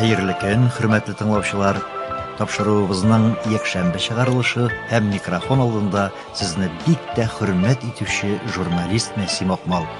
Хәерле көн, хөрмәтле тыңлаучылар. Тапшыруыбызның якшәмбе чыгарылышы һәм микрофон алдында сезне бик тә хөрмәт итүче журналист Мәсим Акмал.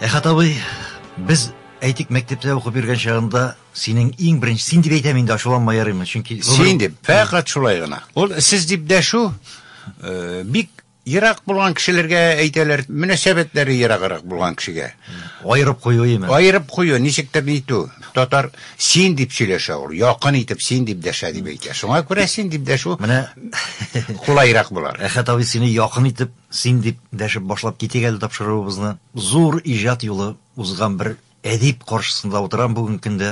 Әхәт абый, без әйтик мәктәптә укып йөргән чагында синең иң беренче син дип әйтәм инде ачуланма ярыймы чөнки син дип фәкать шулай гына ул сез дип дәшү э, бик ерак булган кешеләргә әйтәләр мөнәсәбәтләре ераграк булган кешегә аерып кую именно аерып кую ничектер нитү татар син дип сөйләшә ул якын итеп син дип дәшә дип әйтә шуңа күрә син дип дәшү менә кулайрак булар әхәт абый сине якын итеп Син дип дәшеп башлап китик әле тапшыруыбызны. Зур иҗат юлы узган бер әдип каршысында утырам бүгенге көндә.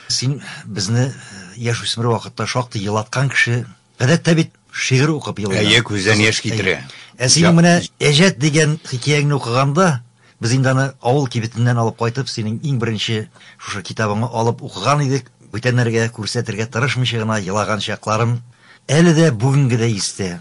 Син безне яшүсмер вакытта шактый елаткан кеше. Гадәттә бит шигырь укып елыйлар. Әйе, күздән яшь китерә. Ә синең менә Әҗәт дигән хикәяңне укыганда, без инде аны авыл кибетеннән алып кайтып, синең иң беренче шушы китабыңны алып укыган идек. Бүтәннәргә күрсәтергә тырышмыйча гына елаган чакларым әле дә бүгенгедәй истә.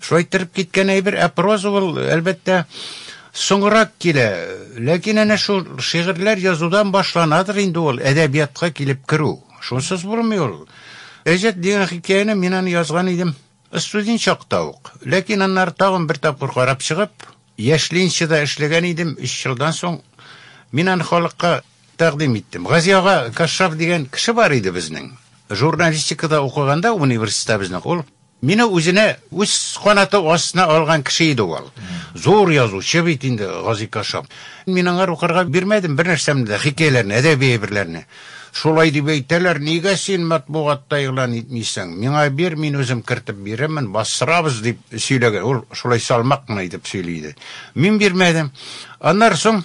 Шулай иттереп киткән әйбер, ә проза ул, әлбәттә, соңрак килә. Ләкин әнә шул шигырьләр язудан башланадыр инде ул әдәбиятка килеп керү. Шунсыз булмый ул. Әҗәт дигән хикәяне мин аны язган идем студент чакта ук. Ләкин аннары тагын бер тапкыр карап чыгып, яшьлинчеда эшләгән идем, өч елдан соң мин аны халыкка тәкъдим иттем. Гази ага Кашшаф дигән кеше бар иде безнең. Журналистикада укыганда университетта безнең ул Мине үзенә үз канаты астына алган кеше иде ул. Зур язучы бит инде Гази Кашап. Мин аңар укырга бирмәдем бернәрсәмне дә, хикәяләрне, әдәби әйберләрне. Шулай дип әйтәләр, нигә син матбугатта игълан итмисең? Миңа бир, мин үзем кертеп бирермен, бастырабыз, дип сөйләгән. Ул шулай салмак кына итеп сөйли иде. Мин бирмәдем. Аннары соң.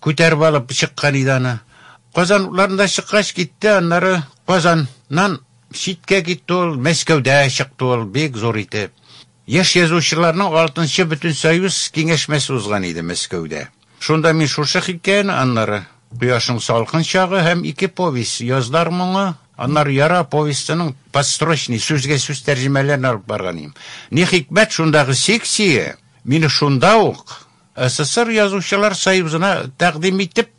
Күтәреп алып чыккан иде аны. Казан утларында чыккач китте, аннары Казаннан читкә китте ул, Мәскәүдә чыкты ул, бик зур итеп. Яшь язучыларның алтынчы бөтенсоюз киңәшмәсе узган иде Мәскәүдә. Шунда мин шушы хикәяне, аннары Кояшның салкын чагы һәм ике повесть, Язлар моңы, аннары Яра повестеның подстрочный, сүзгә-сүз тәрҗемәләрен алып барган идем. Ни хикмәт, шундагы секция мине шунда ук, СССР Язучылар союзына тәкъдим итеп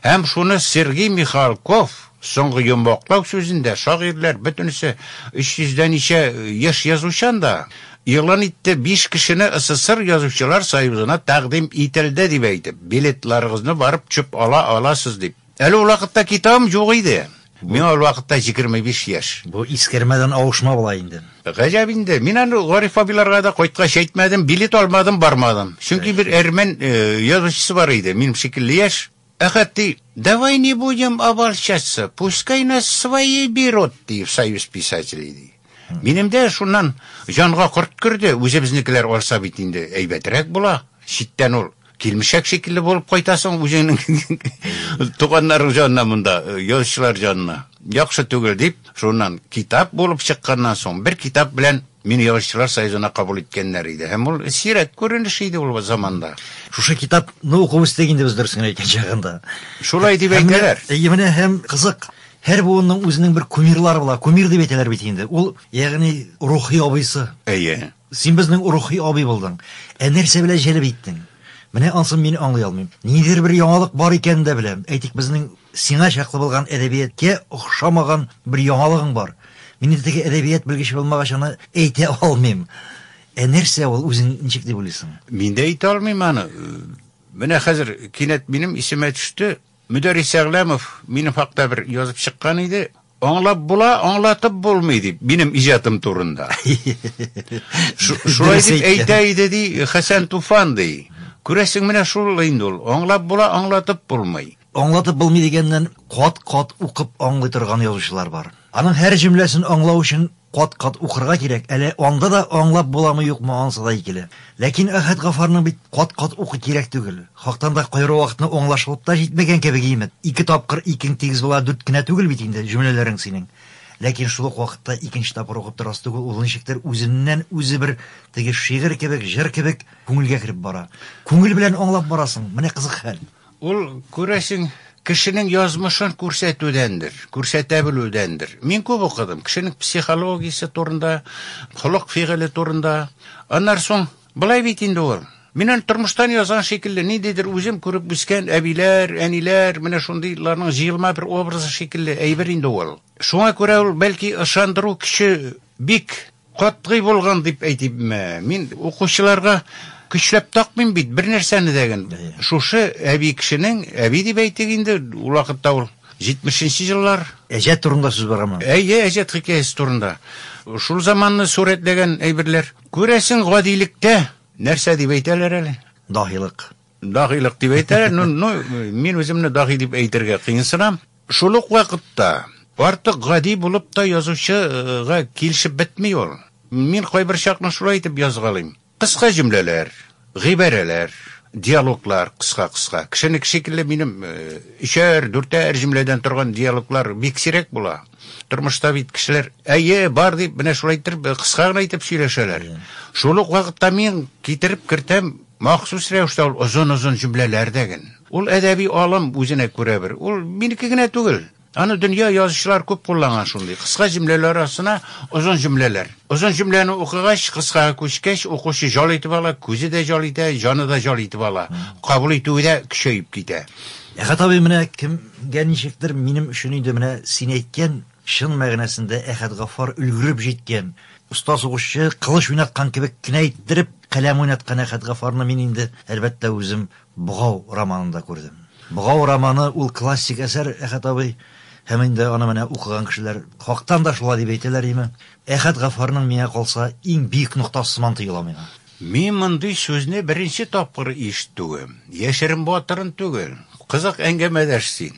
һәм шуны Сергей Михалков соңгы йомгаклау сүзендә шагыйрьләр бөтенесе 300 дә ничә яшь язучан да игълан итте, биш кешене СССР Язучылар союзына тәкъдим ителде дип әйтеп, билетларыгызны барып төшеп ала аласыз дип. Әле ул вакытта китабым юк иде. Миңа ул вакытта җигерме биш яшь. Бу искәрмәдән авышма була инде. Гаҗәп инде. Мин аны Гариф абыйларга да кайткач әйтмәдем, билет алмадым, бармадым. Чөнки бер әрмән язучысы бар иде, минем шикелле яшь. Әхәт ди, Давай не будем обольщаться, пускай нас свои берут, ди, в союз писателей, ди. Минем дә шуннан җанга корт керде, үзебезнекеләр арса бит инде әйбәтрәк була. Читтән ул килмешәк шикелле булып кайтасың үзеңнең туганнарың җанына монда, язучылар җанына. Яхшы түгел дип, шуннан китап булып чыкканнан соң, бер китап белән мине язучылар союзына кабул иткәннәр иде. Һәм ул сирәк күренеш иде ул заманда. Шушы китапны уку үстек инде без дөресен әйткән чагында. Шулай дип әйтәләр. Әйе, менә һәм кызык. Һәр буынның үзенең бер кумирлары була. Кумир дип әйтәләр бит инде. Ул, ягъни, рухи абыйсы. Әйе. Син безнең рухи абый булдың. Ә нәрсә белән җәлеп иттең? Менә ансын мин аңлый алмыйм. Ниндидер бер яңалык бар икәнен дә беләм. Әйтик, безнең сиңа чаклы булган әдәбияткә охшамаган бер яңалыгың бар. Мин инде теге әдәбият белгече булмагач аны әйтә алмыйм. Ә нәрсә ул, үзең ничек дип уйлыйсың? Мин дә әйтә алмыйм аны. Менә хәзер кинәт минем исемә төште. Мөдәррис Әгъләмов минем хакта бер язып чыккан иде, Аңлап була, аңлатып булмый, дип, минем иҗатым турында. Шулай дип әйтә иде, ди, Хәсән Туфан, ди. Күрәсең, менә шул инде ул, аңлап була, аңлатып булмый. Аңлатып булмый дигәннән, кат-кат укып аңлый торган язучылар бар. Аның һәр җөмләсен аңлау өчен Кат-кат укырга кирәк, әле анда да аңлап буламы-юкмы анысы да икеле. Ләкин Әхәт Гафарның бит кат-кат укый кирәк түгел. Хактан да кайры вакытны аңлашылып та җитмәгән кебек имет, ике тапкыр икең тигез була дүрт кенә түгел бит инде җөмләләрең синең. Ләкин шул ук вакытта икенче тапкыр укып торасы түгел, ул ничектер үзеннән үзе бер теге шигырь кебек, җыр кебек күңелгә кереп бара. Күңел белән аңлап барасың, менә кызык хәл. Ул, күрәсең, кешенең язмышын күрсәтүдәндер, күрсәтә белүдәндер. Мин күп укыдым, кешенең психологиясе турында, холык-фигыле турында. Аннар соң, былай бит инде ул. Мин аны тормыштан язган шикелле, ниндидер үзем күреп үскән әбиләр, әниләр, менә шундыйларның җыелма бер образы шикелле әйбер инде ул. Шуңа күрә ул, бәлки, ышандыру көче бик Катгый булган дип әйтимме, мин укучыларга көчләп такмыйм бит бернәрсәне дә ген. Шушы әби кешенең, әби дип әйтик инде, ул вакытта ул җитмешенче еллар. Әҗәт турында сүз барамы? Әйе, әҗәт хикәясе турында. Шул заманны сурәтләгән әйберләр. Күрәсең, гадилектә нәрсә дип әйтәләр әле? Даһилык. Даһилык дип әйтәләр, ну, ну, мин үземне даһи дип әйтергә кыенсынам. Шул ук вакытта артык гади булып та язучыга килешеп бетми ул. Мин кайбер чакны шулай итеп язгалыйм. Кыска җөмләләр, гыйбарәләр, диалоглар кыска-кыска. Кешенеке шикелле минем э, өчәр, дүртәр җөмләдән торган диалоглар бик сирәк була. Тормышта бит кешеләр, әйе, бар дип, менә шулай итеп, кыска гына итеп сөйләшәләр. Шул ук вакытта мин китереп кертәм Махсус рәвештә ул озын-озын җөмләләр дәген. Ул әдәби алым үзенә күрә бер. Ул минеке генә түгел. Аны дөнья язучылары күп кулланган шундый. Кыска җөмләләр арасына озын җөмләләр. Озын җөмләне укыгач, кыскага күчкәч, укучы җал итеп ала, күзе дә җал итә, җаны да җал итеп ала. Кабул итүе дә көчәеп китә. Әхәт абый, менә кемгә ничектер, минем өчен инде менә син әйткән Чын мәгънәсендә Әхәтгафар өлгереп җиткән. Оста сугышчы, кылыч уйнаткан кебек кенә иттереп, каләм уйнаткан Әхәтгафарны мин инде, әлбәттә, үзем Богау романында күрдем. Богау романы ул классик әсәр, Әхәт абый, һәм инде аны менә укыган кешеләр хактан да шулай дип әйтәләр име. Әхәтгафарның, миңа калса, иң биек ноктасы сыман тоела миңа. Мин мондый сүзне беренче тапкыр ишетүем. Яшерен батырын түгел. Кызык әңгәмәдәш син.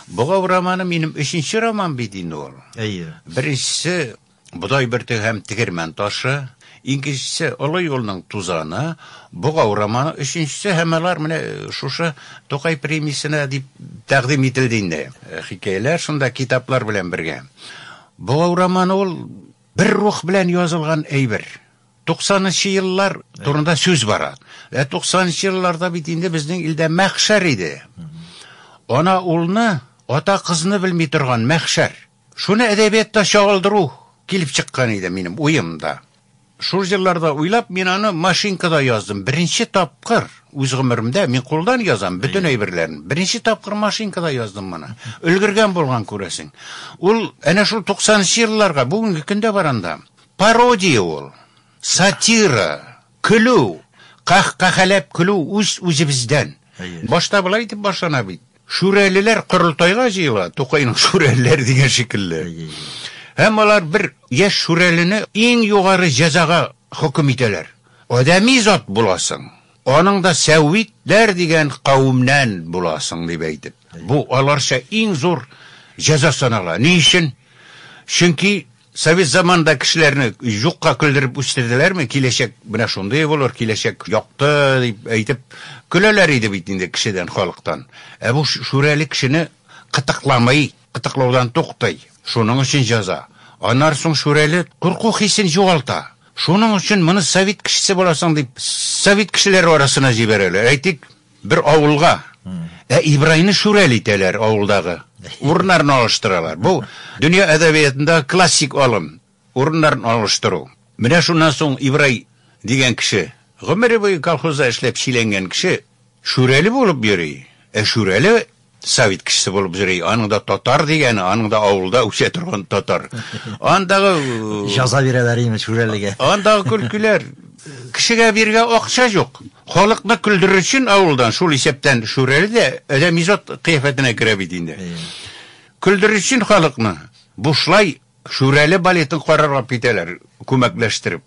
Богау романы минем өченче роман бит инде ул. Әйе. Беренчесе Бодай бөртеге һәм Тегермән ташы, икенчесе Олы юлның тузаны, Богау романы өченчесе һәм алар менә шушы Тукай премиясенә дип тәкъдим ителде инде. Хикәяләр шунда китаплар белән бергә. Богау романы ул бер рух белән язылган әйбер. 90 нчы еллар турында сүз бара. Ә 90 нчы елларда бит инде безнең илдә мәхшәр иде. Ана улны, ата кызны белми торган мәхшәр. Шуны әдәбиятта чагылдыру килеп чыккан иде минем уемда. Шул җырларда уйлап, мин аны машинкада яздым. Беренче тапкыр үз гомеремдә мин кулдан язам бөтен әйберләрен. Беренче тапкыр машинкада яздым моны. Өлгергән булган күрәсең. Ул әнә шул 90 нчы елларга, бүгенге көндә баранда, Пародия ул, сатира, көлү, каһкаһәләп көлү үз-үзебездән. Башта болай итеп башлана бит, Шүрәлеләр корылтайга җыела, Тукайның шүрәлеләре дигән шикелле. Һәм алар бер яшь шүрәлене иң югары җәзага хөкем итәләр. Адәми зат буласың, аның да сәвитләр дигән кавемнән буласың, дип әйтеп. Бу аларча иң зур җәза санала. Ни өчен? Чөнки Совет заманында кешеләрне юкка көлдереп үстерделәрме? Киләчәк менә шундый булыр, киләчәк якты дип әйтеп көләләр иде бит инде кешедән, халыктан. Ә бу шүрәле кешене кытыкламый, кытыклаудан туктый. Шуның өчен җәза. Аннары соң шүрәле курку хисен югалта. Шуның өчен моны совет кешесе буласың дип совет кешеләре арасына җибәрәләр. Әйтик, Бер авылга. Ә Ибрайны Шүрәле итәләр авылдагы. Урыннарын алыштыралар. Бу дөнья әдәбиятындагы классик алым, урыннарын алыштыру. Менә шуннан соң Ибрай дигән кеше, гомере буе колхозда эшләп чиләнгән кеше, Шүрәле булып йөри. Ә Шүрәле Совет кешесе булып йөри. Аның да татар дигәне, аның да авылда үсә торган татар. Андагы җаза бирәләр име шүрәлегә. Андагы көлкеләр. Кешегә биргә акча юк. Халыкны көлдерер өчен авылдан шул исәптән шүрәле дә адәм изот кыяфәтенә керә бит инде. Көлдерер өчен халыкны бушлай шүрәле балетын карарга китәләр, күмәкләштереп.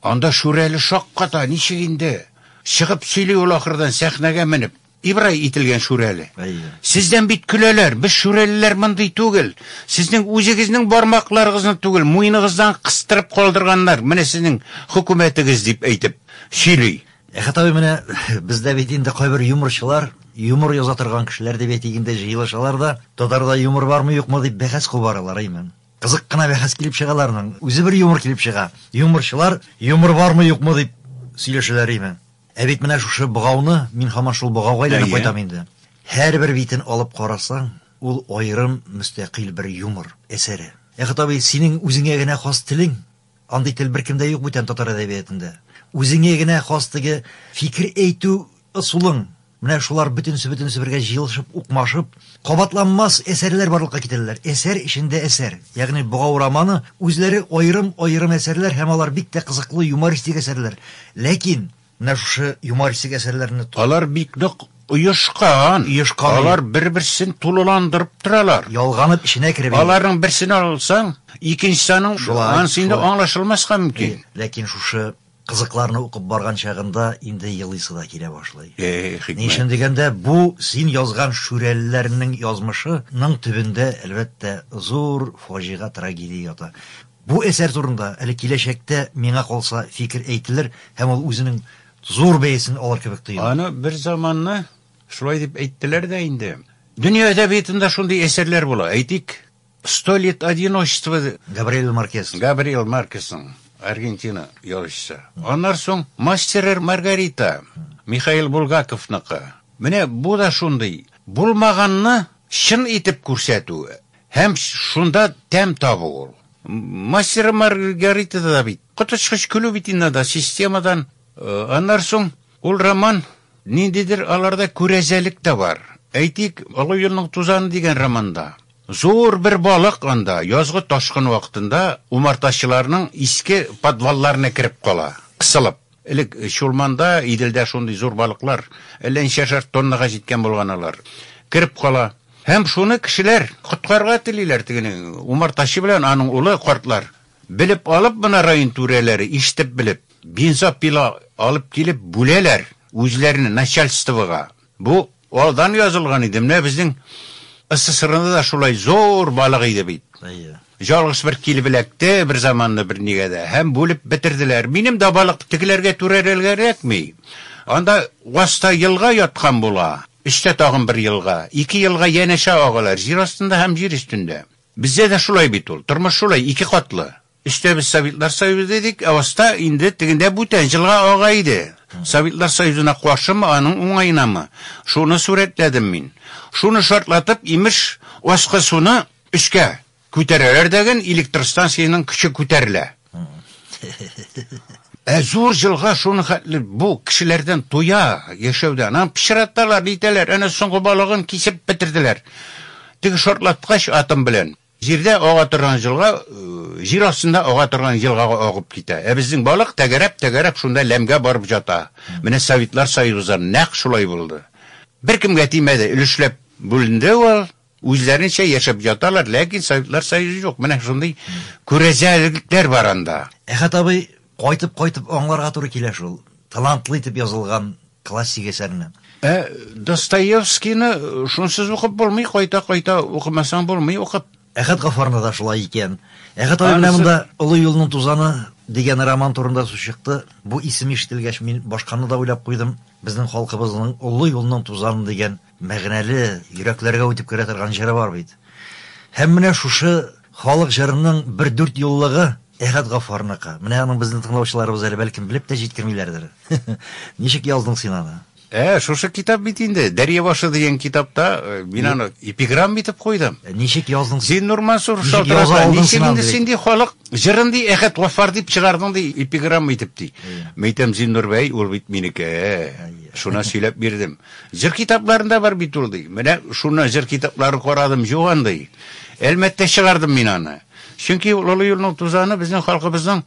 Анда шүрәле шакката, ничек инде? Чыгып сөйли ул ахырдан сәхнәгә менеп. Ибрай ителгән Шүрәле. Әйе. Сездән бит көләләр, без шүрәлеләр мондый түгел. Сезнең үзегезнең бармакларыгызны түгел, муеныгыздан кыстырып калдырганнар, менә сезнең хөкүмәтегез, дип әйтеп сөйли. Әхәт абый, менә бездә бит инде кайбер юморчылар, юмор яза торган кешеләр дип әйтик инде, җыелышалар да, татарда юмор бармы, юкмы дип бәхәс кубаралар, әйме? Кызык кына бәхәс килеп чыга аларның, үзе бер юмор килеп чыга. Юморчылар юмор бармы, юкмы дип сөйләшәләр, әйме? Ә бит менә шушы богауны, мин һаман шул богауга әйләнеп кайтам инде, һәрбер битен алып карасаң, ул аерым мөстәкыйль бер юмор әсәре. Ә Хатабый, синең үзеңә генә хас телең, андый тел беркемдә юк бүтән татар әдәбиятында. Үзеңә генә хас теге фикер әйтү ысулың, менә шулар бөтенесе-бөтенесе бергә җыелышып, укмашып, Кабатланмас әсәрләр барлыкка китерәләр. Әсәр эчендә әсәр. Ягъни Богау романы үзләре аерым-аерым әсәрләр һәм алар бик тә кызыклы юмористик әсәрләр. Ләкин менә шушы юмористик әсәрләрне ту. Алар бик нык оешкан. Оешкан, әйе. Алар бер-берсен тулыландырып торалар. Ялганып эченә кереп, әйе. Аларның берсен алсаң, икенчесе аның Шулай, анысы инде шулай. аңлашылмаска мөмкин. Әйе, ләкин шушы Кызыкларны укып барган чагында инде елыйсы да килә башлый. Эх, хикмәт. Ни өчен дигәндә, бу син язган Шүрәлеләрнең язмышының төбендә, әлбәттә, зур фаҗига, трагедия ята. Бу әсәр турында әле киләчәктә, миңа калса, фикер әйтелер һәм ул үзенең зур бәясен алыр кебек тоела. Аны бер заманны шулай дип әйттеләр дә инде. Дөнья әдәбиятында шундый әсәрләр була, әйтик, Сто лет одиночества Габриэль Маркес. Габриэль Маркесның Аргентина язучысы. Аннар соң Мастер и Маргарита Михаил Булгаковныкы. Менә бу да шундый, булмаганны чын итеп күрсәтү һәм шунда тәм табу ул. Мастер и Маргаритада да бит коточкыч көлү бит инде анда системадан. Аннар соң ул роман ниндидер аларда күрәзәлек тә бар. Әйтик, Олы юлның тузаны дигән романда. Зур бер балык анда, язгы ташкын вакытында, умартачыларның иске подвалларына кереп кала, кысылып. Элек Чулманда, Иделдә шундый зур балыклар, әллә ничәшәр тоннага җиткән булган алар, кереп кала. Һәм шуны кешеләр коткарырга телиләр, тегене, умартачы белән аның улы, картлар. Белеп алып, менә район түрәләре, ишетеп белеп, бензопила алып килеп, бүләләр үзләренә, начальствога. Бу. Алдан язылган иде, менә безнең СССРда да шулай зур балык иде бит. Әйе. Жалгыз бер килеп эләкте бер заманны бер нигә дә һәм бүлеп бетерделәр. Минем дә балык тегеләргә түрәрелгә эләкми. Анда васта елга яткан була, өстә тагын бер елга, ике елга янәшә агалар, җир астында һәм җир өстендә. Бездә дә шулай бит ул, тормыш шулай, ике катлы. Эчтә без Советлар Союзы идек, ә аста инде тегендә бүтән җылга ага иде. Советлар Союзына каршымы, аның уңаенамы, шуны сурәтләдем мин. Шуны шартлатып, имеш, аскы суны өскә күтәрәләр дәген, электростанциянең көче күтәрелә. Ә зур җылга шуны хәтле бу кешеләрдән туя, яшәүдән. Аны пычраталар, нитәләр, әнә соңгы балыгын кисеп бетерделәр. Теге шартлаткач атым белән. Җирдә ага торган җылга җир астында ага торган елгага агып китә. Ә безнең балык тәгәрәп-тәгәрәп шунда ләмгә барып җата. Менә Советлар Союзы да нәкъ шулай булды. Беркемгә тимәде, өлешләп бүленде ул, үзләренчә яшәп яталар, ләкин Советлар Союзы юк. Менә шундый күрәзәлекләр бар анда. Әхәт абый, кайтып-кайтып аңларга туры килә шул. Талантлы итеп язылган Классик әсәрне. Ә Достоевскийны шунсыз укып булмый, кайта-кайта укымасаң булмый укып. Әхәт Гафарны да шулай икән. Әхәт абый менә монда Олы юлның тузаны дигән роман турында сүз чыкты. Бу исем ишетелгәч, мин башканы да уйлап куйдым. Безнең халкыбызның Олы юлның тузаны дигән Мәгънәле, йөрәкләргә үтеп керә торган җыры бар бит. Һәм менә шушы халык җырының бер дүрт еллыгы Әхәт Гаффарныкы. Менә аның безнең тыңлаучыларыбыз әле бәлкем белеп тә җиткермиләрдер. Ничек яздың син аны? Ә, шушы китап бит инде, Дәрья башы дигән китапта мин аны эпиграмма итеп куйдым. Ничек яздың син? Син, Нурмансур, шалтырата, ничек инде син ди халык җырын ди Әхәт Гаффар дип чыгардың ди эпиграмма итеп ди. Мәйтәм, Зиннур бәй, ул бит минеке. Шуна сөйләп бирдем. Җыр китапларында бар бит ул, ди. Менә шуны, җыр китапларын карадым, юк андый. Әлмәттә чыгардым мин аны. Чөнки ул олы юлның тузаны безнең халкыбызның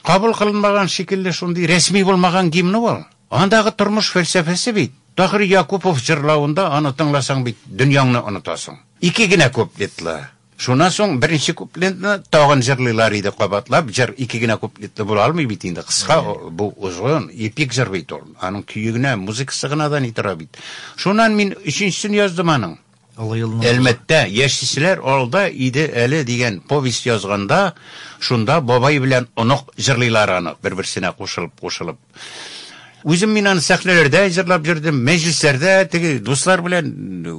кабул кылынмаган шикелле шундый рәсми булмаган гимны ул. Андагы тормыш фәлсәфәсе бит, Таһир Якупов җырлавында аны тыңласаң бит дөньяңны онытасың. Ике генә куплетлы, Шуннан соң беренче куплентны тагын җырлыйлар иде кабатлап. Җыр ике генә куплетлы була алмый бит инде, кыска, бу озын, эпик җыр бит ул. Аның көе генә, музыкасы гына да ни тора бит. Шуннан мин өченчесен яздым аның. Олы юлның бозы. Әлмәттә, яшиселәр алда иде әле дигән повесть язганда, шунда бабай белән онык җырлыйлар аны, бер-берсенә кушылып-кушылып. Үзем мин аны сәхнәләрдә җырлап йөрдем, мәҗлесләрдә, теге дуслар белән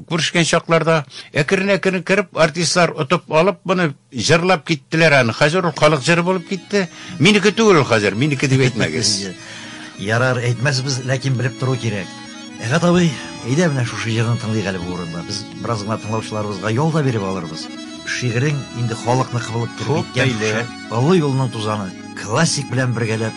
күрешкән чакларда. Әкрен-әкрен кереп, артистлар отып алып, моны җырлап киттеләр аны. Хәзер ул халык җыры булып китте. Минеке түгел ул хәзер, минеке дип әйтмәгез. Ярар, әйтмәсбез, ләкин белеп тору кирәк. Әгат абый, әйдә менә шушы җырны тыңлыйк әле бу урында. Без бераз гына тыңлаучыларыбызга ял да биреп алырбыз. Шигырең инде халыкныкы булып торып киткән. Олы юлның тузаны классик белән бергәләп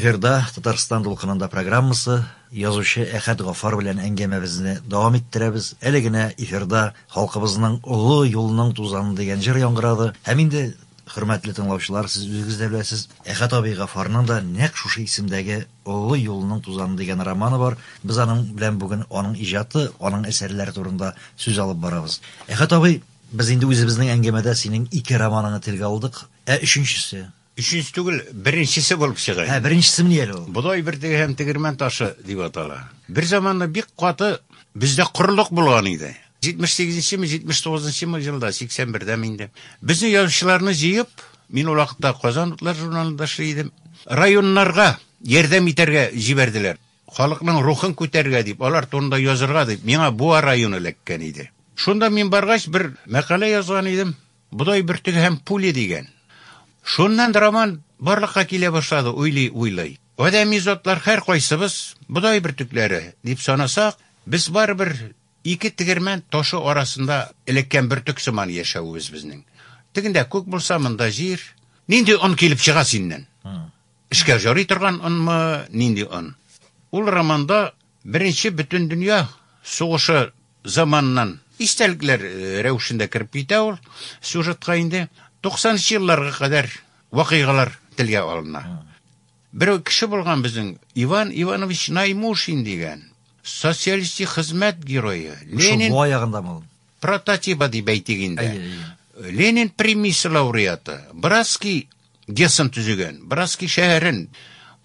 Эфирда Татарстан дулкынында программасы язучы Әхәт Гафар белән әңгәмәбезне дәвам иттерәбез. Әле генә эфирда халкыбызның олы юлның тузаны дигән җыр яңгырады. Һәм инде Хөрмәтле тыңлаучылар, сез үзегез дә беләсез, Әхәт абый Гафарның да нәкъ шушы исемдәге Олы юлның тузаны дигән романы бар. Без аның белән бүген аның иҗаты, аның әсәрләре турында сүз алып барабыз. Әхәт абый, без инде үзебезнең әңгәмәдә синең ике романыңны телгә алдык. Ә өченчесе? Өченче түгел, беренчесе булып чыга. Ә беренчесе ни әле ул? Бодай бөртеге һәм тегермән ташы дип атала. Бер заманда бик каты бездә корылык булган иде. 78-нчеме, 79-нчымы җылда, 81-дәме инде. Безнең язучыларны җыеп, мин ул вакытта Казан утлар журналында эшли идем. Районнарга ярдәм итәргә җибәрделәр. Халыкның рухын күтәрергә дип, алар турында язырга дип, миңа Буа районы эләккән иде. Шунда мин баргач, бер мәкалә язган идем, Бодай бөртеге һәм пули дигән. Шуннан роман барлыкка килә башлады, уйлый-уйлый. Адәми затлар һәркайсыбыз бодай бөртекләре дип санасак, без барыбер Ике тегермән ташы арасында эләккән бөртек сыман яшәвебез безнең. Тегендә күк булса, монда җир. Нинди он килеп чыга синнән? Эшкә җарый торган онмы, нинди он? Ул романда Беренче бөтендөнья сугышы заманыннан истәлекләр рәвешендә кереп китә ул сюжетка инде. Туксанынчы елларга кадәр вакыйгалар телгә алына. Бер кеше булган безнең, Иван Иванович Наймушин дигән, социалистик хезмәт герое, Ленин... Шул бая гында мал. Прототипа дип әйтик инде. Ленин премиясе лауреаты, Браски гесын төзегән, Браски шәһәрен,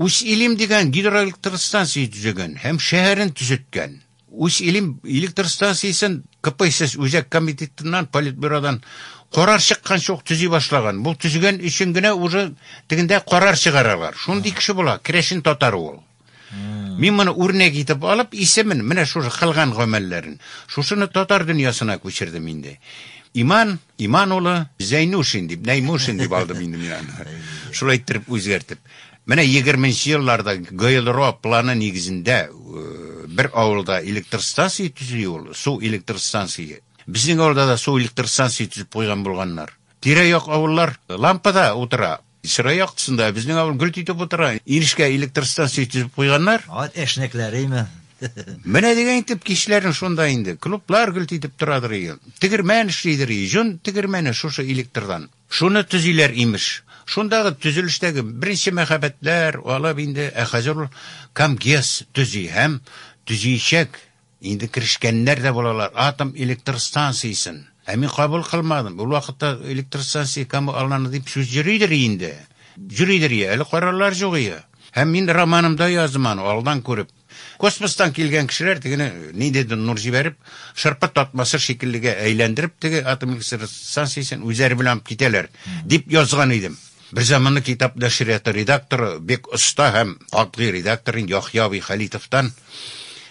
Ус-Илим дигән гидроэлектростанция төзегән һәм шәһәрен төзеткән. Үз илем электр станциясен КПСС үзәк комитетыннан, политбюродан карар чыккан шук төзи башлаган. Бу төзегән өчен генә уже тегендә карар чыгаралар. Шундый кеше була, керәшен татар ул. Мин моны үрнәк итеп алып, исемен, менә шушы кылган гамәлләрен, шушыны татар дөньясына күчердем инде. Иман, Иман улы, Зәйнушин дип, Нәймушин дип алдым инде мин аны. Шулай иттереп үзгәртеп. Менә егерменче елларда ГЭЛРО планы нигезендә бер авылда электростанция төзи ул, су электростанция. Безнең авылда да су электростанция төзеп куйган булганнар. Тирә-як авыллар лампада утыра, чырай яктысында, ә безнең авыл гөлт итеп утыра. Инешкә электростанция төзеп куйганнар. Ат әшнәкләреме? Менә дигән итеп кичләрен шунда инде. Клублар гөлт итеп торадыр иде. Тегермән эшлидер иде. Җон тегермәне шушы электрдан. Шуны төзиләр, имеш. Шундагы төзелештәге беренче мәһабәтләр алып инде, ә хәзер ул Камгес төзи һәм төзиячәк. Инде керешкәннәр дә булалар атом электр станциясен. Ә мин кабул кылмадым. Ул вакытта электр станция кому алланы дип сүз йөридер инде. Йөридер, я әле карарлар җугыя. Һәм мин романымда яздым аны, алдан күреп. Космостан килгән кешеләр тегене ниндидер нур җибәреп, шырпы татмасы шикеллегә әйләндереп, теге атом электростанциясен үзләре белән алып китәләр, дип язган идем. Берзаманны китап нәшрияты редакторы, бик оста һәм катгый редактор Яхъя абый Хәлитовтан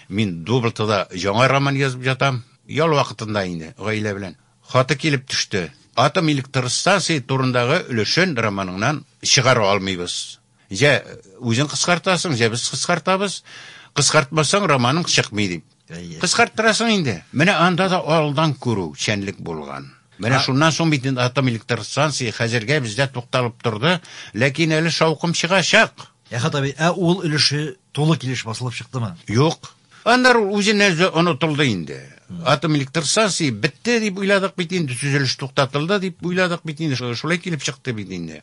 мин Дублтыда яңа роман язып ятам, ял вакытында инде, гаилә белән, хаты килеп төште, Атом электростанция турындагы өлешен романыңнан чыгара алмыйбыз. Җә үзең кыскартасың, җә без кыскартабыз. Кыскартмасаң, романың чыкмый дип. Кыскарттырасың инде. Менә анда да алдан күрү, чәнлек булган. Менә шуннан соң бит инде атом электр станциясе хәзергә бездә тукталып торды, ләкин әле шаукым чыгачак. Әхәт абый, ә ул өлеше тулы килеш басылып чыктымы? Юк. Аннары ул үзеннән үзе онытылды инде. Атом электр станциясе бетте дип уйладык бит инде, төзелеш туктатылды дип уйладык бит инде. Шулай килеп чыкты бит инде.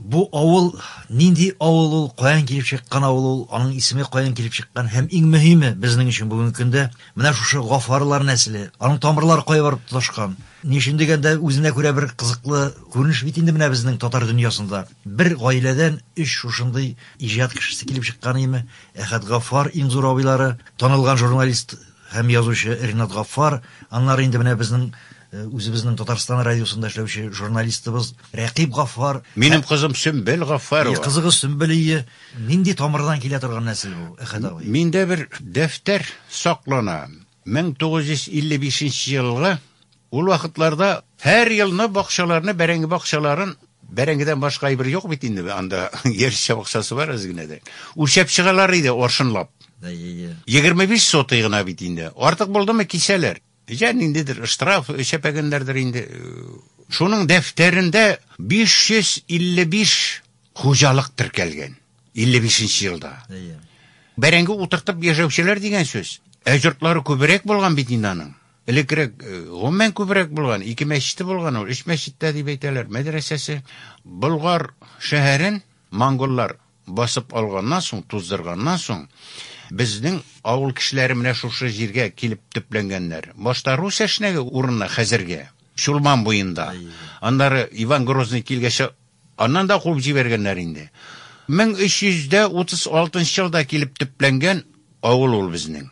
Бу авыл нинди авыл ул, каян килеп чыккан авыл ул, аның исеме каян килеп чыккан һәм иң мөһиме безнең өчен бүгенге көндә менә шушы Гафарлар нәселе, аның тамырлары кая барып тоташкан. Ни өчен дигәндә, үзенә күрә бер кызыклы күренеш бит инде менә безнең татар дөньясында. Бер гаиләдән өч шушындый иҗат кешесе килеп чыккан име? Әхәт Гафар, иң зур абыйлары, танылган журналист һәм язучы Ринат Гафар, аннары инде менә безнең Үзебезнең Татарстан радиосында эшләүче журналистыбыз Рәкыйп Гаффар. Минем кызым Сөмбел Гаффарова. И, кызыгыз Сөмбел ие. Нинди тамырдан килә торган нәсел бу, Әхәт абый? Миндә бер дәфтәр саклана. 1955 нче елгы. Ул вакытларда һәр елны бакчаларны, бәрәңге бакчаларын, бәрәңгедән башка әйбер юк бит инде анда, яшелчә бакчасы бар әз генә дә. Үлчәп чыгалар иде аршынлап. Әйе. 25 сотый гына бит инде. Артык булдымы, кисәләр. Я ниндидер штраф чәпәгәннәрдер инде. Шуның дәфтәрендә 555 хуҗалык теркәлгән. 55 нче елда. Бәрәңге утыртып яшәүчеләр дигән сүз. Ә йортлары күбрәк булган бит инде аның. Элеккерәк э, гомумән күбрәк булган, ике мәчете булган ул, өч мәчеттә дип әйтәләр, мәдрәсәсе. Болгар шәһәрен монголлар Басып алганнан соң, туздырганнан соң, безнең авыл кешеләре менә шушы җиргә килеп төпләнгәннәр. Башта рус әшнәге урынына, хәзерге Чулман буенда. Аннары Иван Грозный килгәчә, аннан да куып җибәргәннәр инде. 1336 нчы елда килеп төпләнгән авыл ул безнең.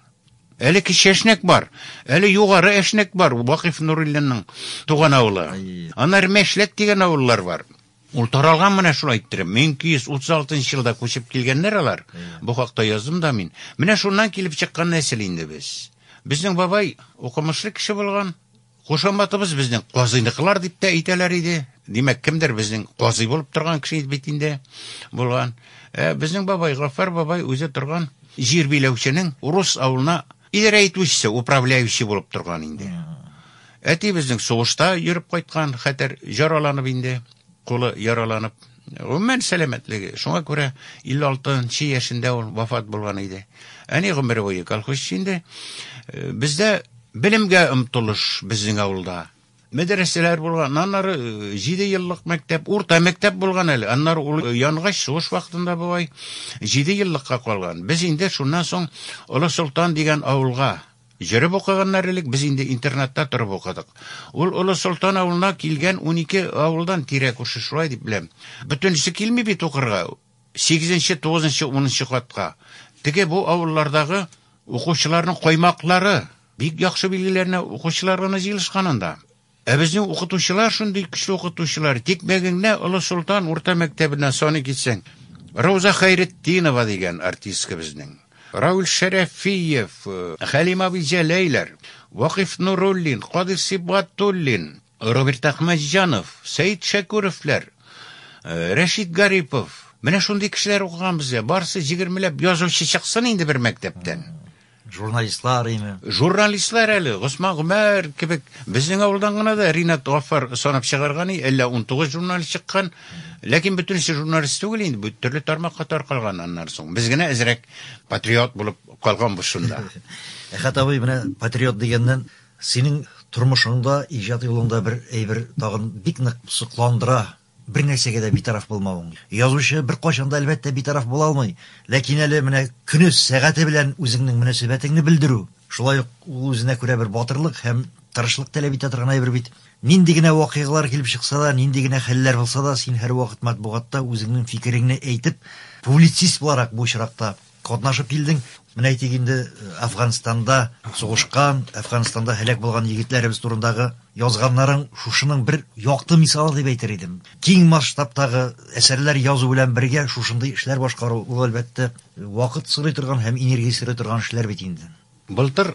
Әле Кече Әшнәк бар, әле Югары Әшнәк бар, Вакыйф Нуруллинның туган авылы. Аннары Мәшләк дигән авыллар бар. Ул таралган менә шулай иттереп. 1236 нчы елда күчеп килгәннәр алар. Бу хакта яздым да мин. Менә шуннан килеп чыккан нәсел инде без. Безнең бабай укымышлы кеше булган. Кушаматыбыз безнең казыйныкылар дип тә әйтәләр иде. Димәк, кемдер безнең казый булып торган кеше бит инде булган. Ә безнең бабай, Гаффар бабай үзе торган җир биләүченең урыс авылына Идарә итүчесе, управляющий булып торган инде. Әтиебезнең сугышта йөреп кайткан, хәтер яраланып инде, кулы яраланып. Гомумән сәламәтлеге, шуңа күрә 56 нчы яшендә ул вафат булган иде. Әни гомере буе колхозчы инде. Бездә белемгә омтылыш безнең авылда. Мәдрәсәләр булган, аннары э, җиде еллык мәктәп, урта мәктәп булган әле. Аннары ул э, янгач сугыш вакытында бабай җиде еллыкка калган. Без инде шуннан соң Олы Солтан дигән авылга Җырып укыганнар элек без инде интернатта торып укыдык. Ул Олы Солтан авылына килгән 12 авылдан тирә күрше шулай дип беләм. Бөтенесе килми бит укырга. Сигезенче, тугызынчы, унынчы катка. Теге бу авыллардагы укучыларның каймаклары. Бик яхшы билгеләренә укучылар гына җыелышкан анда. Ә безнең укытучылар шундый көчле укытучылар, тик мәгеңнә Олы Солтан урта мәктәбенә саный китсәң, Рауза Хәйретдинова дигән артистка безнең, Равил Шәрәфиев, Хәлим абый Җәләйләр, Вакыйф Нуруллин, Кадыйр Сибгатуллин, Роберт Әхмәтҗанов, Сәет Шәкүровләр, Рәшит Гарипов, менә шундый кешеләр укыган бездә. Барысы җигермеләп язучы чыксын инде бер мәктәптән. Журналистлар име? Журналистлар әле, Госман Гомәр кебек. Безнең авылдан гына да Ринат Гафар санап чыгарга ни, әллә 19 журналист чыккан. Ләкин бөтенесе журналист түгел инде, бу төрле тармакка таркалган аннан соң. Без генә әзрәк патриот булып калганбыз шунда. Әхәт абый, менә патриот дигәннән, Синең тормышыңда, иҗат юлыңда бер әйбер тагын бик нык сокландыра, бернәрсәгә дә битараф булмавың. Язучы беркайчан да, әлбәттә, битараф була алмый, ләкин әле менә көне, сәгате белән үзеңнең мөнәсәбәтеңне белдерү, шулай ук ул үзенә күрә бер батырлык һәм тырышлык таләп итә торган әйбер бит. Нинди генә вакыйгалар килеп чыкса да, нинди генә хәлләр булса да, син һәрвакыт матбугатта үзеңнең фикереңне әйтеп, публицист буларак бу очракта, Катнашып килдең. Менә әйтик инде, Әфганстанда сугышкан, Әфганстанда һәлак булган егетләребез турындагы язганнарың шушының бер якты мисалы дип әйтер идем. Киң масштабтагы әсәрләр язу белән бергә шушындый эшләр башкару, ул әлбәттә вакыт сорый торган һәм энергия сорый торган эшләр бит инде. Былтыр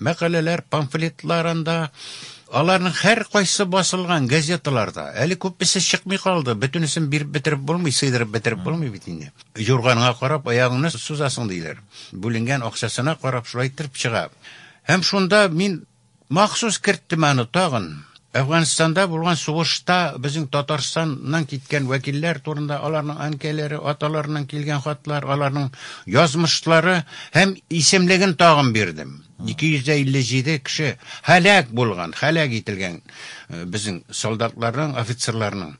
мәкаләләр, памфлетлар анда. Аларның һәркайсы басылган газеталарда. Әле күпмесе чыкмый калды. Бөтенесен биреп бетереп булмый, сыйдырып бетереп булмый бит инде. Юрганга карап аягыңны сузасың диләр. Бүленгән акчасына карап шулай иттереп чыга. Һәм шунда мин махсус керттем аны тагын. Әфганстанда булган сугышта безнең Татарстаннан киткән вәкилләр турында аларның әнкәйләре, аталарыннан килгән хатлар, аларның язмышлары һәм исемлеген тагын бирдем. 257 кеше һәлак булган, һәлак ителгән э, безнең солдатларның, офицерларның.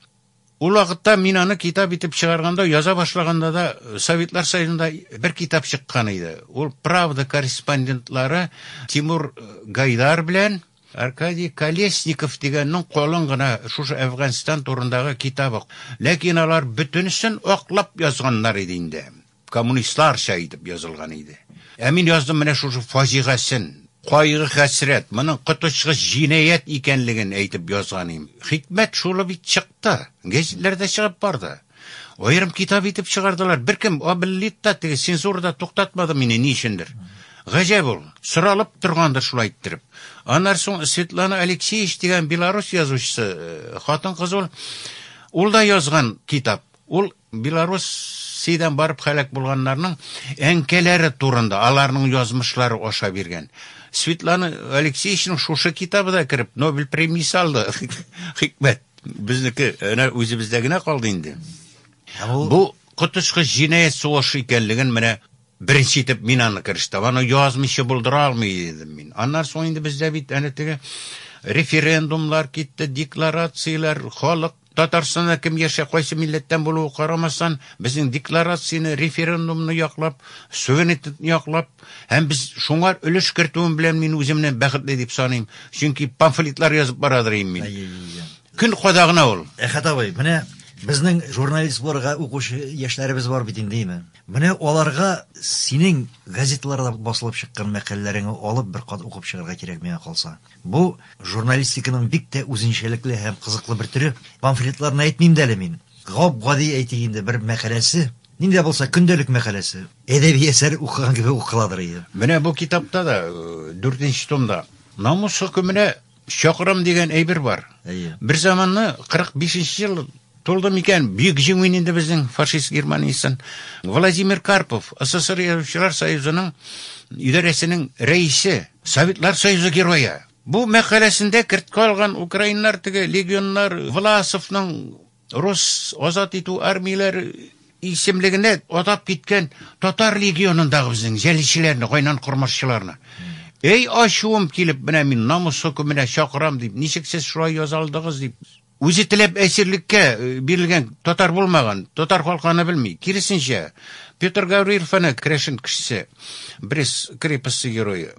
Ул вакытта мин аны китап итеп чыгарганда, яза башлаганда да Советлар Союзында бер китап чыккан иде. Ул Правда корреспондентлары Тимур Гайдар белән Аркадий Колесников дигәннең калын гына шушы Әфганстан турындагы китабы. Ләкин алар бөтенесен аклап язганнар иде инде. коммунистларча итеп язылган иде. Ә мин яздым менә шушы фаҗигасен, кайгы-хәсрәт, моның коточкыч җинаять икәнлеген әйтеп язган идем. Хикмәт шулы бит чыкты. Гәзитләрдә чыгып барды. Аерым китап итеп чыгардылар. Беркем абеллит та теге цензурада туктатмады мине ни өчендер. Гаҗәп ул. Соралып торгандыр шулай иттереп. Аннан соң Светлана Алексеевич дигән белорус язучысы, э, хатын-кыз ул, ул да язган китап. Ул Белоруссиядән барып һәлак булганнарның әнкәләре турында, аларның язмышлары аша биргән. Светлана Алексеевичның шушы китабы да кереп, Нобель премиясе алды. Хикмәт. Безнеке әнә үзебездә генә калды инде. Бу коточкыч җинаять сугышы икәнлеген менә беренче итеп мин аны керештем. Аны язмыйча булдыра алмый идем мин. Аннан соң инде бездә бит әнә теге референдумлар китте, декларацияләр, халык Татарстанда кем яшә, кайсы милләттән булуы карамастан, безнең декларацияне, референдумны яклап, суверенитетны яклап һәм без шуңар өлеш кертүем белән мин үземне бәхетле дип саныйм, чөнки памфлетлар язып барадыр им мин. Көн кадагына ул. Әхәт абый, менә безнең журналист булырга укучы яшьләребез бар бит инде име. Менә аларга синең газеталарда басылып чыккан мәкаләләреңне алып бер кат укып чыгарга кирәк миңа калса. Бу, журналистиканың бик тә үзенчәлекле һәм кызыклы бер төре. Памфлетларны әйтмим дә әле мин. Гап-гади, әйтик инде, бер мәкаләсе, ни дә булса көндәлек мәкаләсе, әдәби әсәр укыган кебек укыладыр иде. Менә бу китапта да, дүртенче томда, намус хөкеменә чакырам дигән әйбер бар. Әйе. Берзаманны, 45 нче ел, Тулды микән Бөек Җиңү инде безнең фашист Германиясен? Владимир Карпов, СССР Язучылар союзының идарәсенең рәисе, Советлар Союзы Герое. Бу мәкаләсендә кертке алган украиннар теге легионнар Власовның рус азат итү армияләр исемлегенә атап киткән татар легионындагы безнең җәлилчеләрне, гайнан кормашчыларны. Әй ачуым килеп, менә мин намус хөкеменә чакырам дип, ничек сез шулай яза алдыгыз дип. Үзе теләп әсирлеккә бирелгән татар булмаган, татар халкы аны белми. Киресенчә, Петр Гаврилов аны керәшен кешесе, Брест крепости герое.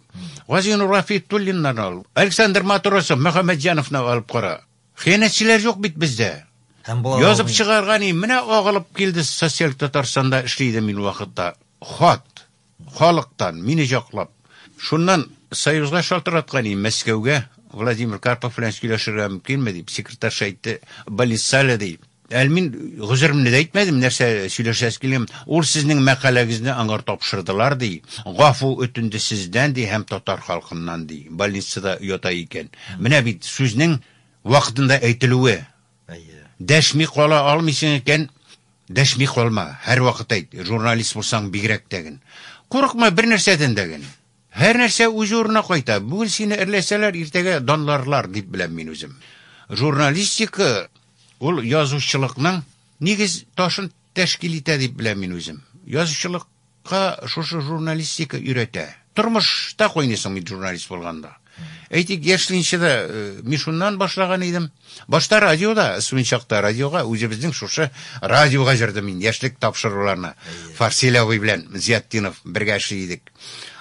Газинур Гафиятуллиннан ал, Александр Матросов, Мөхәммәтҗановны алып кара. Хыянәтчеләр юк бит бездә. Һәм була ла Язып алмый. чыгарга ни, менә агылып килде социаль Татарстанда эшли идем мин вакытта. Хат. Халыктан, мине җаклап. Шуннан Союзга шалтыраткан идем, Мәскәүгә, Владимир Карпов белән сөйләшергә мөмкинме дип, секретарша әйтте, больницада ди. Әле мин гозеремне дә әйтмәдем, нәрсә сөйләшәсе килгән. Ул сезнең мәкаләгезне аңар тапшырдылар, ди. Гафу үтенде сездән, ди, һәм татар халкыннан, ди. Больницада ята икән. Менә бит сүзнең вакытында әйтелүе, Әйе. Дәшми кала алмыйсың икән, дәшми калма. Һәрвакыт әйт, журналист булсаң бигрәк тә гел. Курыкма бер нәрсәдән дә гел. Һәр нәрсә үз урынына кайта. Бүген сине эрләсәләр, иртәгә данларлар, дип беләм мин үзем. Журналистика ул язучылыкның нигез ташын Тәшкил итә дип беләм мин үзем. Язучылыкка шушы журналистика өйрәтә. Тормышта кайныйсың бит журналист булганда. Әйтик, яшьлинче дә Мишуннан башлаган идем. Башта радиода, студент чакта радиога, үзебезнең шушы радиога җырдым мин яшьлек тапшыруларны. Фарсил абый белән Зиятдинов бергә эшли идек.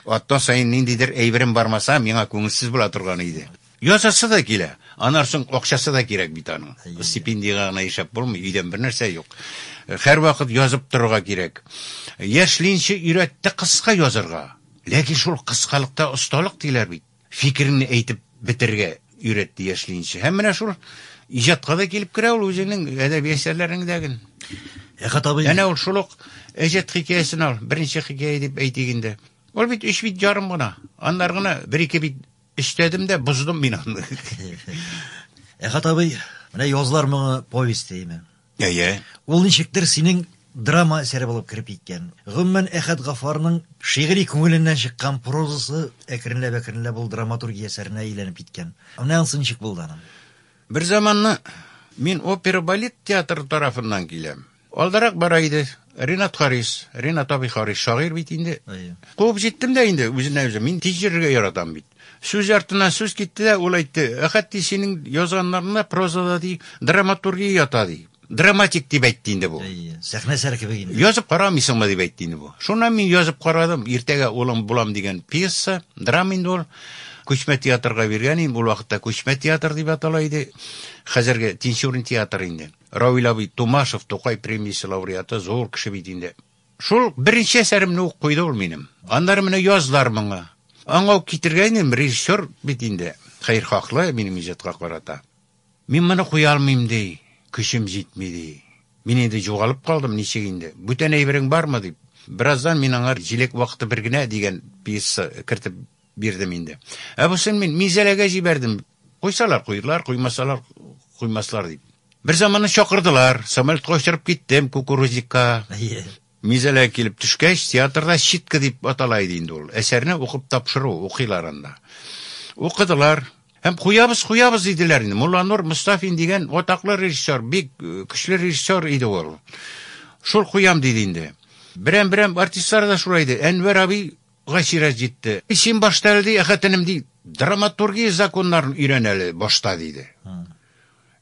Атна саен ниндидер әйберем бармаса, миңа күңелсез була торган иде. Язасы да килә. Аннан соң акчасы да кирәк бит аның. Стипендиягә генә ишәп булмый, өйдән бернәрсә юк. Һәрвакыт язып торырга кирәк. Яшьлинче өйрәтте кыска язарга. Ләкин шул кыскалыкта осталык диләр бит. Фикереңне әйтеп бетерергә өйрәтте яшьлинче. Һәм менә шул иҗатка да килеп керә ул үзенең әдәби әсәрләрендәген. Әхәт абый. Әнә ул шул ук Әҗәт хикәясен ал, беренче хикәя дип әйтик инде. Ул бит өч бит ярым гына. Аннары гына бер-ике бит Эчтәдем дә боздым мин аны. Әхәт абый, менә язлар моңы повесте име? Әйе. Ул ничектер синең драма әсәре булып кереп киткән. Гомумән, Әхәт Гафарның шигъри күңеленнән чыккан прозасы әкренләп-әкренләп ул драматургия әсәренә әйләнеп киткән. Менә ансы ничек булды аның? Бер заманны мин опера-балет театры тарафыннан киләм. Алдарак бара иде. Ринат Харис, Ринат абый Харис, шагыйрь бит инде. Әйе. Куып җиттем дә инде үзенә үзе. Мин тиз йөрергә яратам бит. Сүз артына сүз китте дә, ул әйтте, Әхәт, ди, синең язганнарыңда прозада, ди, драматургия ята, ди. Драматик дип әйтте инде бу. Әйе, сәхнә сәр кебек инде. Язып карамыйсыңмы дип әйтте инде бу. Шуннан мин язып карадым, Иртәгә улым булам дигән пьеса, драма инде ул. Күчмә театрга биргән идем, ул вакытта Күчмә театр дип атала иде. Хәзерге Тинчурин театры инде. Равил абый Тумашев Тукай премиясе лауреаты, зур кеше бит инде. Шул беренче әсәремне ук куйды ул минем. Аннары менә язлар моңа. Аңа ук китергәйнем, режиссер бит инде. Хәер хаклы минем иҗатка карата. Мин моны куя алмыйм ди, көчем җитми ди. Мин инде җугалып калдым, ничек инде? Бүтән әйберең бармы дип. Бераздан мин аңар Җиләк вакыты бер генә дигән пьеса кертеп бирдем инде. Ә бусын мин Мизәләгә җибәрдем. Куйсалар, куерлар, куймасалар, куймаслар, дип. Бер заманы чакырдылар, самолетка очырып киттем кукурузникка. Мизәлә килеп төшкәч, театрда читка дип атала иде инде ул. Әсәрне укып тапшыру, укыйлар анда. Укыдылар, Һәм куябыз, куябыз диделәр инде. Мулланур Мустафин дигән атаклы режиссер, бик э, көчле режиссер иде ул. Шул куям диде инде. Берәм-берәм артистлар да шулай иде. Әнвәр абый Гайсирә җитте. Син башта әле, ди, хәтенем, ди, драматургия законнарын өйрән әле башта, диде.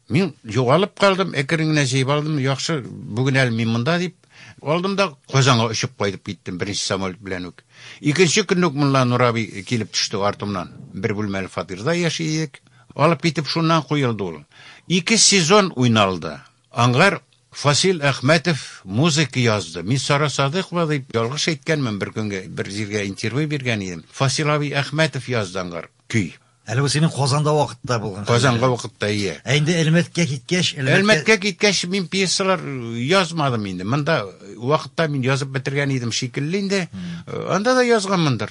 Мин югалып калдым, әкрен генә җыеп алдым. Яхшы, бүген әле мин монда дип алдым да Казанга очып кайтып киттем беренче самолет белән үк. Икенче көнне үк Мулла Нур абый килеп төште артымнан. Бер бүлмәле фатирда яши идек. Алып китеп шуннан куелды ул. Ике сезон уйналды. Аңгар Фасил Әхмәтов музыка язды. Мин Сара Садыйкова дип ялгыш әйткәнмен, бер көнгә бер җиргә интервью биргән идем. Фасил абый Әхмәтов язды аңгар көй. Әле бу синең Казанда вакытта булган. Казанга вакытта, ие. Ә инде Әлмәткә киткәч, Әлмәткә Әлмәткә киткәч мин пьесалар язмадым инде. Монда вакытта мин язып бетергән идем шикелле инде. Анда да язганмындыр.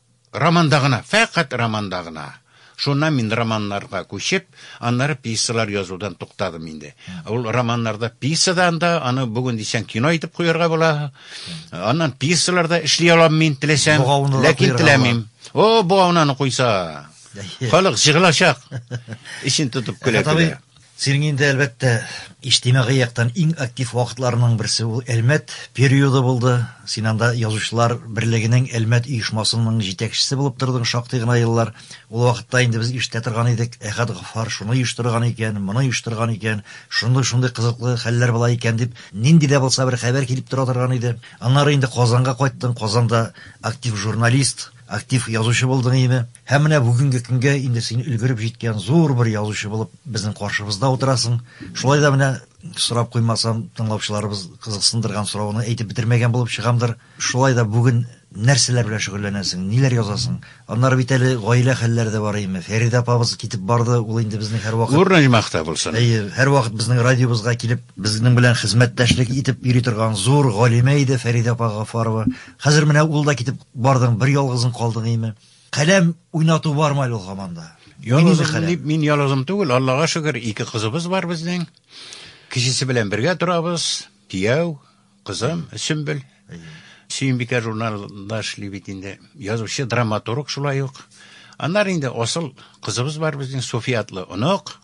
Романда гына, фәкать романда гына. Шуннан мин романнарга күчеп, аннары пьесалар язудан туктадым инде. Ул романнарда пьесадан да, аны бүген дисәң кино итеп куярга була. Аннан пьесалар да эшли алам мин теләсәм, ләкин теләмим. О, бу аунаны куйса. Халык җыгылачак. Ишен тотып көлә. Синең инде, әлбәттә, иҗтимагый яктан иң актив вакытларының берсе ул Әлмәт периоды булды. Син анда Язучылар берлегенең Әлмәт оешмасының җитәкчесе булып тордың шактый гына еллар. Ул вакытта инде без ишетә торган идек, Әхәт Гаффар шуны оештырган икән, моны оештырган икән, шундый-шундый кызыклы хәлләр була икән дип, нинди дә булса бер хәбәр килеп тора торган иде. Аннары инде Казанга кайттың, Казанда актив журналист. Актив язучы булдың име? Һәм менә бүгенге көнгә инде син өлгереп җиткән зур бер язучы булып безнең каршыбызда утырасың. Шулай да менә сорап куймасам, тыңлаучыларыбыз кызыксындырган соравны әйтеп бетермәгән булып чыгамдыр. Шулай да бүген нәрсәләр белән шөгыльләнәсең, ниләр язасың? Аннары бит әле гаилә хәлләре дә бар име? Фәридә апабыз китеп барды, ул инде безнең һәрвакыт Нур Нәҗмәхтә булсын. Әйе, һәрвакыт безнең радиобызга килеп, безнең белән хезмәттәшлек итеп йөри торган зур галимә иде Фәридә апа Гафарова. Хәзер менә ул да китеп бардың, бер ялгызың калдың име? Каләм уйнату бар мал ул хаманда. Ялгызым дип мин ялгызым түгел, Аллага шөкер, ике кызыбыз бар безнең. Кечесе белән бергә торабыз, кияү, кызым Сөмбел. Сөембикә журналында эшли бит инде. Язучы, драматург шулай ук. Аннары инде асыл кызыбыз бар безнең София атлы онык.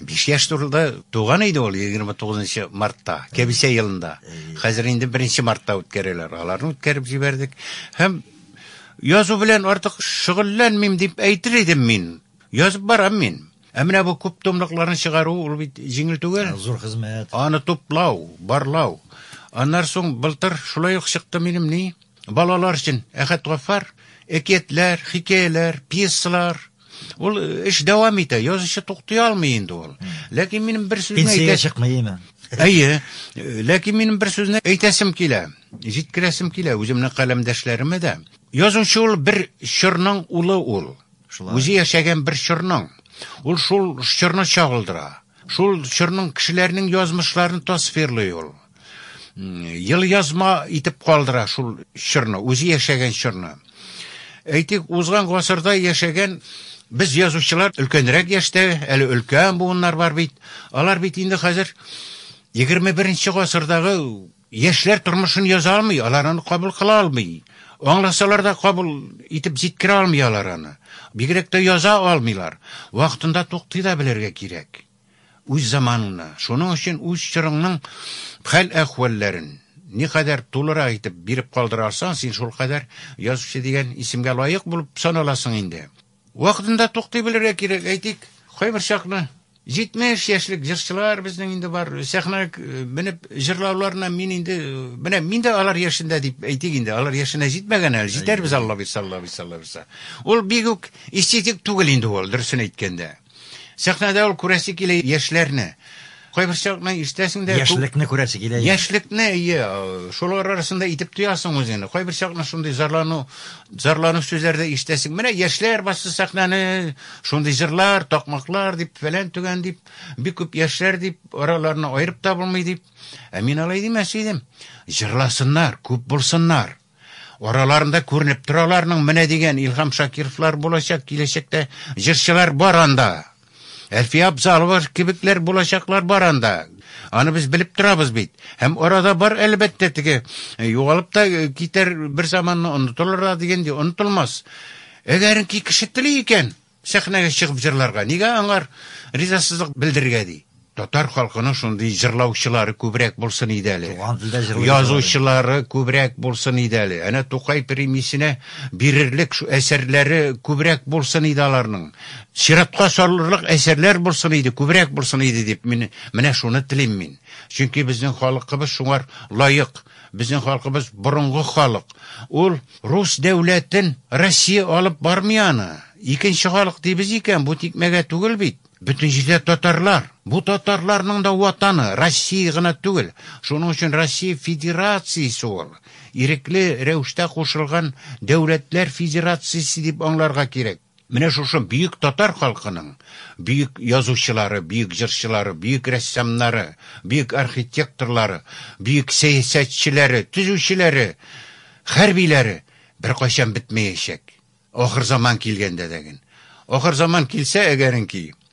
Биш яшь турында туган иде ул 29 мартта, кәбисә елында. Хәзер инде 1 мартта үткәрәләр. Аларны үткәреп җибәрдек. Һәм язу белән артык шөгыльләнмим дип әйтер идем мин. Язып барам мин. Ә менә бу күп томлыкларны чыгару ул бит җиңел түгел. Зур хезмәт. Аны туплау, барлау. Аннар соң былтыр шулай ук чыкты минем ни? Балалар өчен Әхәт Гафар, әкиятләр, хикәяләр, пьесалар, Ул эш дәвам итә, язучы туктый алмый инде ул. Ләкин минем бер сүзне Пенсиягә әйтә... чыкмыймы? Әйе, ләкин минем бер сүзне әйтәсем килә, җиткерәсем килә үземнең каләмдәшләремә дә. Язучы ул бер чорның улы ул. Шулай. Үзе яшәгән бер чорның. Ул шул чорны чагылдыра. Шул чорның кешеләренең язмышларын тасвирлый ул. Ел язма итеп калдыра шул чорны, үзе яшәгән чорны. Әйтик, узган гасырда яшәгән без язучылар өлкәнрәк яшьтә, әле өлкән буыннар бар бит. Алар бит инде хәзер 21 гасырдагы яшьләр тормышын яза алмый, алар аны кабул кыла алмый. Аңласалар да кабул итеп җиткерә алмый алар аны. Бигрәк тә яза алмыйлар. Вакытында туктый да белергә кирәк. Үз заманыңны, шуның өчен үз чорыңның хәл-әхвәлләрен никадәр тулырак итеп биреп калдыра алсаң, син шулкадәр язучы дигән исемгә лаек булып саналасың инде. Вакытында туктый белергә кирәк, әйтик, кайбер чакны 70 яшьлек җырчылар безнең инде бар, сәхнәгә менеп җырлауларына мин инде, менә мин дә алар яшендә дип әйтик инде, алар яшенә җитмәгән әле, җитәрбез, Аллабирса, Аллабирса, Аллабирса. Ул бигүк эстетик түгел инде ул, дөресен әйткәндә. Сәхнәдә ул күрәсе килә яшьләрне. Кайбер чакны ишетәсең дә Яшьлекне күрәсе килә. Яшьлекне, ие, шулар арасында итеп тоясың үзеңне. Кайбер чакны шундый зарлану, зарлану сүзләр дә ишетәсең. Менә яшьләр басты сәхнәне, шундый җырлар, такмаклар дип, фәлән түгән дип, бик күп яшьләр дип, араларына аерып та булмый дип. Ә мин алай димәс идем. Җырласыннар, күп булсыннар. Араларында күренеп тора аларның менә дигән Илһам Шакировлар булачак киләчәктә, җырчылар бар анда. Әлфия Абзалова кебекләр булачаклар бар анда. Аны без белеп торабыз бит. Һәм арада бар әлбәттә теге э, югалып та э, китәр бер заманны онытылыр да дигән ди, онытылмас. Әгәренки кеше тели икән, Сәхнәгә чыгып җырларга, нигә аңар ризасызлык белдерергә ди? Татар халкының шундый җырлаучылары күбрәк булсын иде әле. Туган телдә җырлый. Язучылары күбрәк булсын иде әле. Әнә Тукай премиясенә бирерлек шу әсәрләре күбрәк булсын иде аларның. Чиратка салырлык әсәрләр булсын иде, күбрәк булсын иде дип мин менә шуны телим мин. Чөнки безнең халыкыбыз шуңар лаек. Безнең халкыбыз борынгы халык. Ул рус дәүләтен Россия алып бармый аны. Икенче халык дибез икән, бу тикмәгә түгел бит. Бөтен җирдә татарлар. Бу татарларның да ватаны, Россия гына түгел. Шуның өчен Россия Федерациясе ул. Ирекле рәвештә кушылган дәүләтләр федерациясе дип аңларга кирәк. Менә шушы бөек татар халкының бөек язучылары, бөек җырчылары, бөек рәссамнары, бөек архитекторлары, бөек сәясәтчеләре, төзүчеләре, хәрбиләре беркайчан бетмәячәк. Ахырзаман килгәндә дә ген. Ахырзаман килсә, әгәренки,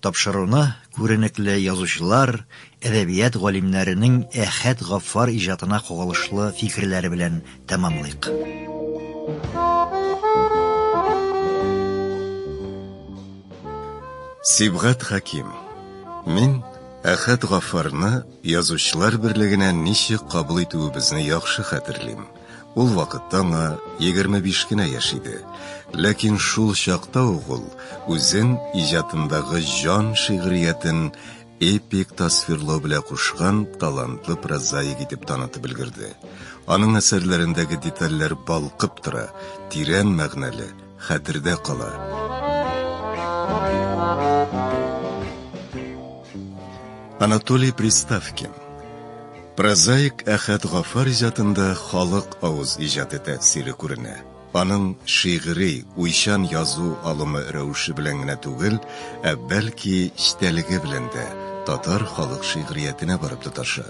Тапшыруны күренекле язучылар, әдәбият галимнәренең Әхәт Гаффар иҗатына кагылышлы фикерләре белән тәмамлыйк. Сибгат Хәким Мин Әхәт Гаффарны Язучылар берлегенә ничек кабул итүебезне яхшы хәтерлим. Ул вакытта аңа 25 кенә яшь иде. Ләкин шул чакта ук ул үзен иҗатындагы җан шигъриятен эпик тасвирлау белән кушкан талантлы прозаик итеп танытып өлгерде. Аның әсәрләрендәге детальләр балкып тора, тирән мәгънәле, хәтердә кала. Анатолий Приставкин Прозаик Әхәт Гафар иҗатында халык авыз иҗаты тәэсире күренә. Аның шигъри, уйчан язу алымы рәвеше белән генә түгел, ә бәлки, читәлеге белән дә татар халык шигъриятенә барып тоташа.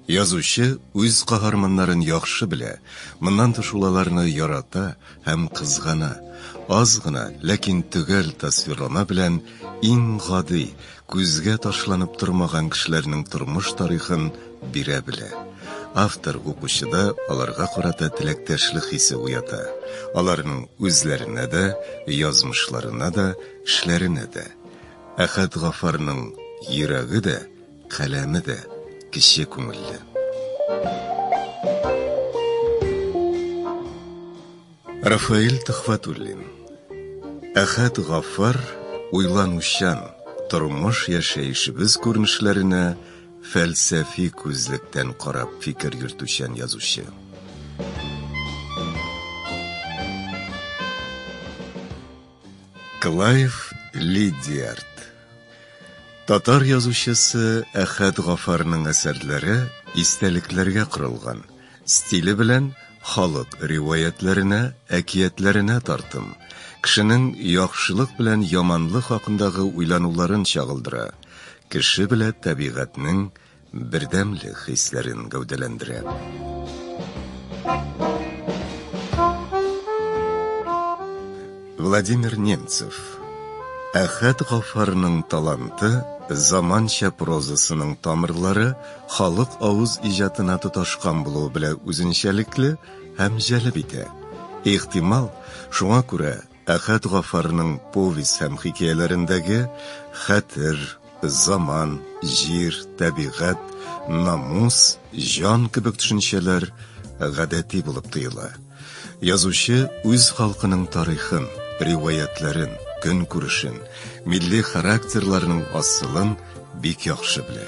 Язучы үз каһарманнарын яхшы белә, моннан тыш ул аларны ярата һәм кызгана. Аз гына, ләкин төгәл тасвирлама белән иң гади, күзгә ташланып тормаган кешеләрнең тормыш тарихын бирә белә. Автор укучыда аларга карата теләктәшлек хисе уята, аларның үзләренә дә, язмышларына да, эшләренә дә. Әхәт Гафарның йөрәге дә, Каләме дә кече күңелле. Рафаэль Төхвәтуллин. Әхәт Гафар уйланучан тормыш яшәешебез күренешләренә фәлсәфи күзлектән карап фикер йөртүчән язучы. Клайв Лидиард Татар язучысы Әхәт Гафарның әсәрләре истәлекләргә корылган. Стиле белән халык риваятьләренә, әкиятләренә тартым. Кешенең яхшылык белән яманлык хакындагы уйлануларын чагылдыра. Кеше белә тәбигатьнең Бердәмлек хисләрен гәүдәләндерә. Владимир Немцев Әхәт Гафарның таланты заманча прозасының тамырлары халык авыз иҗатына тоташкан булуы белән үзенчәлекле һәм җәлеп итә. Ихтимал, шуңа күрә Әхәт Гафарның повесть һәм хикәяләрендәге хәтер, заман, җир, табигать, намус, җан кебек төшенчәләр гадәти булып тоела. Язучы үз халкының тарихын, риваятьләрен, көнкүрешен, милли характерларның асылын бик яхшы белә.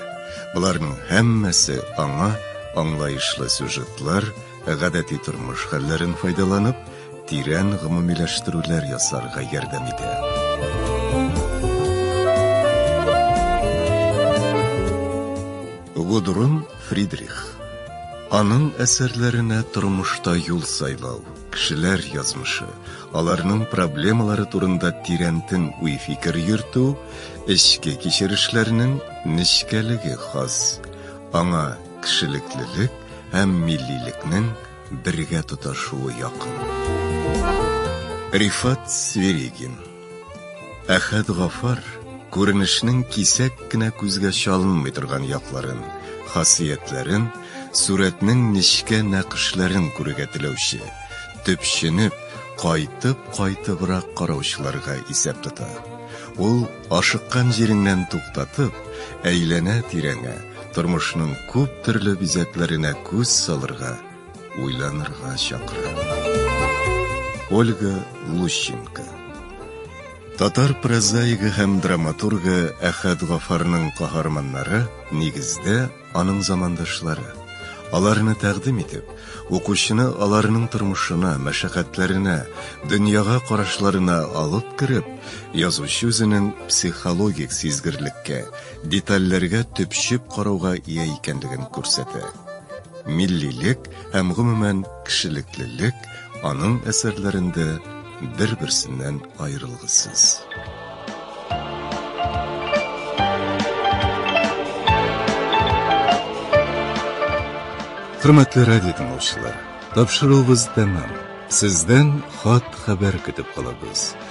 Боларның һәммәсе аңа аңлаешлы сюжетлар, Гадәти тормыш хәлләрен файдаланып, тирән гомумиләштерүләр ясарга ярдәм итә. Гудрун Фридрих. Аның әсәрләренә тормышта юл сайлау, кешеләр язмышы, аларның проблемалары турында тирәнтен уй-фикер йөртү, эчке кичерешләрнең нечкәлеге хас. Аңа Кешелеклелек һәм миллилекнең бергә тоташуы якын. Рифат Сверигин Әхәт Гафар күренешнең кисәк кенә күзгә чалынмый торган якларын, хасиятләрен, сурәтнең нечкә нәкышләрен күрергә теләүче, төпченеп, кайтып-кайтыбрак караучыларга исәп тота. Ул, ашыккан җиреңнән туктатып, әйләнә-тирәңә, тормышның күп төрле бизәкләренә күз салырга, уйланырга чакыра. Ольга Лущенко Татар прозаигы һәм драматургы Әхәт Гафарның каһарманнары нигездә аның замандашлары. Аларны тәкъдим итеп, укучыны аларның тормышына, мәшәкатьләренә, дөньяга карашларына алып кереп, язучы үзенең психологик сизгерлеккә, детальләргә төпчеп карауга ия икәнлеген күрсәтә. Миллилек һәм, гомумән, кешелеклелек аның әсәрләрендә бер-берсеннән аерылгысыз. Хөрмәтле радио тыңлаучылар, тапшыруыбыз тәмам. Сездән хат-хәбәр көтеп калабыз.